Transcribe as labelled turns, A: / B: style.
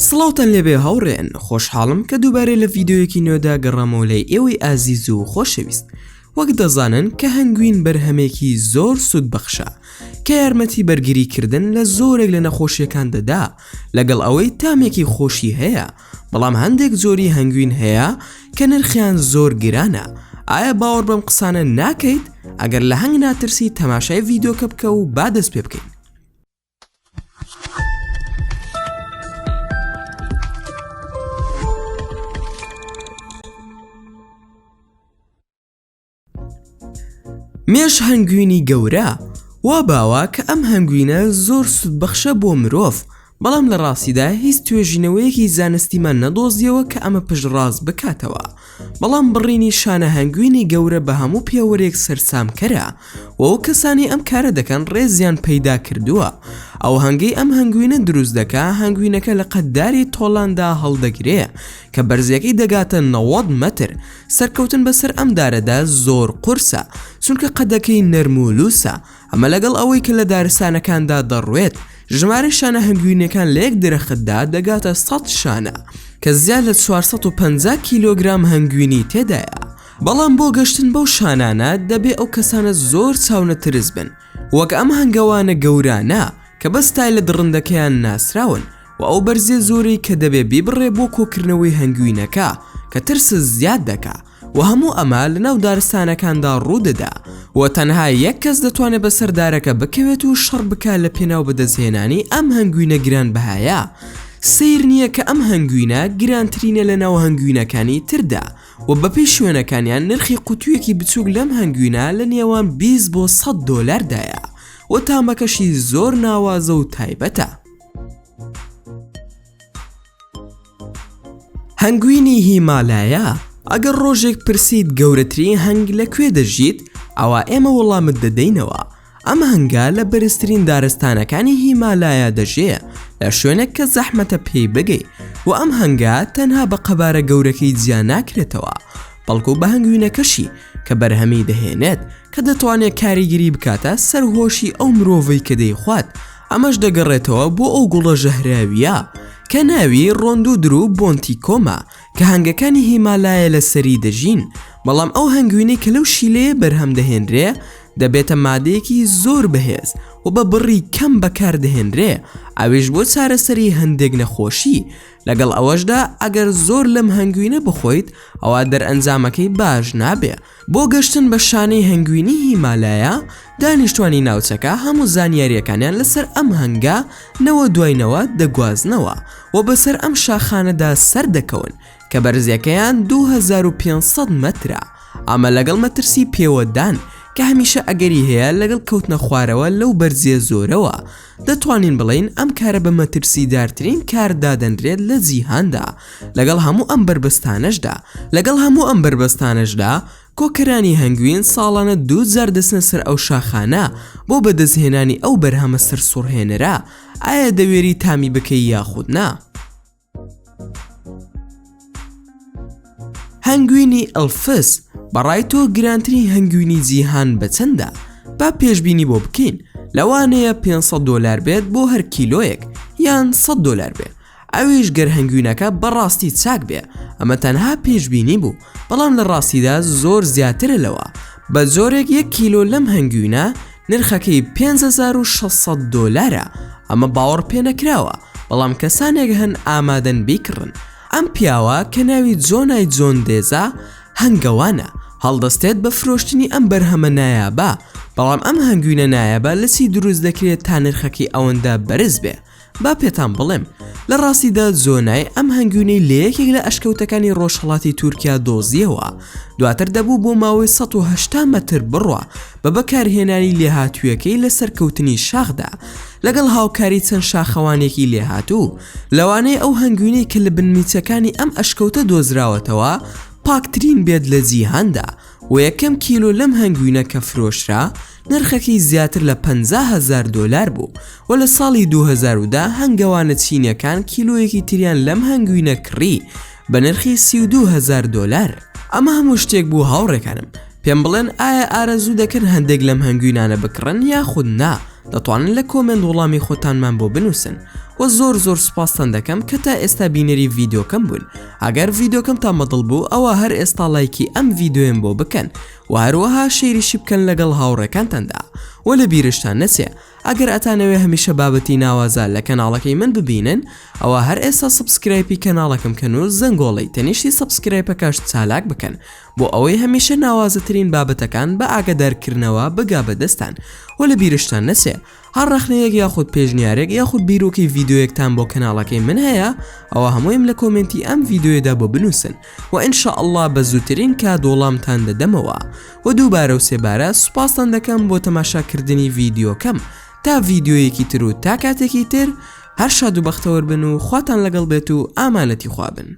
A: سڵاوتان لێبێ هاوڕێیان خۆشحاڵم کە دووبارەی لە ڤیددیویەکی نوێدا گەڕامەوە لای ئێوەی ئازیز و خۆشەویست وەک دەزانن کە هەنگوین بەرهەمێکی زۆر سوود بەخشە کە یارمەتی بەرگری کردن لە زۆرێک لە نەخۆشیەکان دەدا لەگەڵ ئەوەی تامێکی خۆشی هەیە بەڵام هەندێک زۆری هەنگوین هەیە کە نرخیان زۆر گرانە ئایا باوەڕ بەم قسانە ناکەیت ئەگەر لە هەنگ ناترسی تەماشای ڤیددیوکە بکە و با دەست پێ بکەین مێش هەنگوینی گەورە وا باوە کە ئەم هەنگوینە زۆر سودبەخشە بۆ مرۆڤ بەڵام لە ڕاستیدا هیچ توێژینەوەیەکی زانستیمان نەدۆزیەوە کە ئەمە پشتڕاست بکاتەوە بەڵام بڕینی شانە هەنگوینی گەورە بە هەموو پێوەرێک سەرسامکەرە و ئەو کەسانەی ئەم کارە دەکەن ڕێزیان پەیدا کردووە. ئەو هەنگەی ئەم هەنگوینە دروست دەکا هەنگوینەکە لە قەدداری تۆلاندا هەڵدەگرێ کە بەرزیەکەی دەگاتە نەوەد مەتر. سەرکەوتن بەسەر ئەم دارەدا زۆر قورسە چونکە قەدەکەی نەرم و لووسە. ئەمە لەگەڵ ئەوەی کە لە دارستانەکاندا دەڕوێت، ژمارەی شانە هەنگوینەکان لە یەک درەختدا دەگاتە سەد شانە، کە زیاد لە چوار سەد و پەنجا کیلۆگرام هەنگوینی تێدایە. بەڵام بۆ گەشتن بەو شانانە دەبێ ئەو کەسانە زۆر چاونەترس بن، وەک ئەم هەنگەوانە گەورانە کە بە ستایلە دڕندەکەیان ناسراون، و ئەو بەرزییە زۆرەی کە دەبێ بیبڕێ بۆ کۆکردنەوەی هەنگوینەکە کە ترست زیاد دەکا. وە هەموو ئەمە لەناو دارستانەکاندا ڕوودەدا وە تەنها یەک کەس دەتوانێت بەسەر دارەکە بکەوێت و شەڕ بکات لە پێناو بەدەستهێنانی ئەم هەنگوینە گرانبەهایە سەیر نییە کە ئەم هەنگوینە گرانترینە لە ناو هەنگوینەکانی تردا وە بەپێی شوێنەکانیان نرخی قوتویەکی بچوک لەم هەنگوینە لە نێوان 20 بۆ 100 دۆلاردایە وە تامەکەشی زۆر ناوازە و تایبەتە. هەنگوینی هیمالایا ئەگەر ڕۆژێک پرسیت گەورەترین هەنگ لە کوێ دەژیت ئەوا ئێمە وەڵامت دەدەینەوە ئەم هەنگا لە بەرزترین دارستانەکانی هیمالایا دەژێ لە شوێنێک کە زەحمەتە پێی بگەی و ئەم هەنگا تەنها بە قەبارە گەورەکەی جیا ناکرێتەوە بەڵکو بە هەنگوینەکەشی کە بەرهەمی دەهێنێت کە دەتوانێت کاریگیری بکاتە سەر هۆشی ئەو مرۆڤی کە دەیخوات ئەمەش دەگەڕێتەوە بۆ ئەو گوڵە ژەهراوییە کە ناوی ڕۆندودر و بۆنتی کۆمە کە هەنگەکانی هیمالایە لە سەری دەژین بەڵام ئەو هەنگوینەی کە لەو شیلەیە بەرهەم دەهێنرێ دەبێتە مادەیەکی زۆر بەهێز و بە بڕی کەم بەکاردەهێنرێ ئەویش بۆ چارەسەری هەندێک نەخۆشی لەگەڵ ئەوەشدا ئەگەر زۆر لەم هەنگوینە بخۆیت ئەوە دەرئەنجامەکەی باش نابێ بۆ گەشتن بە شانەی هەنگوینی هیمالایا، دانیشتوانی ناوچەکە هەموو زانیارییەکانیان لەسەر ئەم هەنگە نەوە دوای نەوە دەگوازنەوە و بەسەر ئەم شاخانەدا سەر دەکەون کە بەرزییەکەیان 2500 مەترە، ئەمە لەگەڵ مەترسی پێوەدان کە هەمیشە ئەگەری هەیە لەگەڵ کەوتنە خوارەوە لەو بەرزییە زۆرەوە. دەتوانین بڵێین ئەم کارە بە مەترسیدارترین کار دادەنرێت لە جیهاندا لەگەڵ هەموو ئەم بەربەستانەشدا لەگەڵ هەموو ئەم بەربەستانەشدا کۆکەرانی هەنگوین ساڵانە دوو جار دەچنە سەر ئەو شاخانە بۆ بەدەستهێنانی ئەو بەرهەمە سەرسوڕهێنەرە ئایا دەوێری تامی بکەی یاخود نا؟ هەنگوینی ئەلفس بەڕای تۆ گرانترین هەنگوینی جیهان بەچەندە با پێشببینی بۆ بکەین لەوانەیە 500 دلار بێت بۆ هەر کیلۆیەک یان 100 دلار بێت ئەویش گەر هەنگوینەکە بەڕاستی چاک بێ ئەمە تەنها پێشببینی بوو بەڵام لە ڕاستیدا زۆر زیاترە لەوە بە زۆرێک یەک کیلۆ لەم هەنگوینە نرخەکەی پێنج هەزار و شەش سەد دۆلارە، ئەمە باوەڕپێنەکراوە، بەڵام کەسانێک هەن ئامادەن بیکڕن. ئەم پیاوە کە ناوی جۆنای جۆن دێزا هەنگەوانە، هەڵدەستێت بە فرۆشتنی ئەم بەرهەمە نایابە، بەڵام ئەم هەنگوینە نایابە لە چی دروست دەکرێت تا نرخەکەی ئەوەندە بەرز بێ؟ با پێتان بڵێم لە ڕاستیدا زۆنای ئەم هەنگوینەی لە یەکێک لە ئەشکەوتەکانی ڕۆژهەڵاتی تورکیا دۆزیەوە دواتر دەبوو بۆ ماوەی ١٨٠ مەتر بڕە بە بەکارهێنانی لێهاتوویەکەی لە سەرکەوتنی شاخدا لەگەڵ هاوکاری چەند شاخەوانێکی لێهاتوو لەوانەیە ئەو هەنگوینەی کە لە بنمیچەکانی ئەم ئەشکەوتە دۆزراوەتەوە پاکترین بێت لە جیهاندا و یەکەم کیلۆ لەم هەنگوینە کە فرۆشرا نرخەکەی زیاتر لە پەنجا هەزار دۆلار بوو و لە ساڵی دوو هەزار و دە هەنگەوانە چینیەکان کیلۆیەکی تریان لەم هەنگوینە کڕی بە نرخی سی و دوو هەزار دۆلار. ئەمە هەموو شتێک بوو هاوڕێکانم پێم بڵێن ئایا ئارەزوو دەکەن هەندێک لەم هەنگوینانە بکڕن یاخود نا دەتوانن لە کۆمێنت وڵامی خۆتانمان بۆ بنووسن وە زۆر زۆر سوپاستان دەکەم کە تا ئێستا بینەری ڤیدۆکەم بوون ئەگەر ڤیدۆکەمتان بەدڵ بوو ئەوە هەر ئێستا ڵایکی ئەم ڤیدۆیەم بۆ بکەن وە هەروەها شەیریشی بکەن لەگەڵ هاوڕێکانتاندا وە لە بیرشتان نەچێ ئەگەر ئەتانەوێ هەمیشە بابەتی ناوازە لە کەناڵەکەی من ببینن ئەوا هەر ئێستا سەبسکرایپی کەناڵەکەم کەن و زەنگۆڵەی تەنیشتی سەبسکرایپەکەش چالاک بکەن بۆ ئەوەی هەمیشە ناوازەترین بابەتەکان بە ئاگەدارکردنەوە بگا بەدەستان وە لە بیرشتان نەچێ هەر ڕەخنەیەک یاخود پێشنیارێک یاخود بیرۆکەی ڤیددیوەکتان بۆ کەناڵەکەی من هەیە ئەوە هەموویم لە کۆمنتی ئەم ڤیددیوێدا بۆ بنووسن و ئینشاء اللە بە زووترین کات وەڵامتان دەدەمەوە و دووبارە و سێبارە سوپاستان دەکەم بۆ تەماشاکردنی ڤیددیوکەم تا ڤیددیویەکی تر و تا کاتێکی تر هەر شاد و بەختەوەربن و خواتان لەگەڵ بێت و ئامانەتی خوابن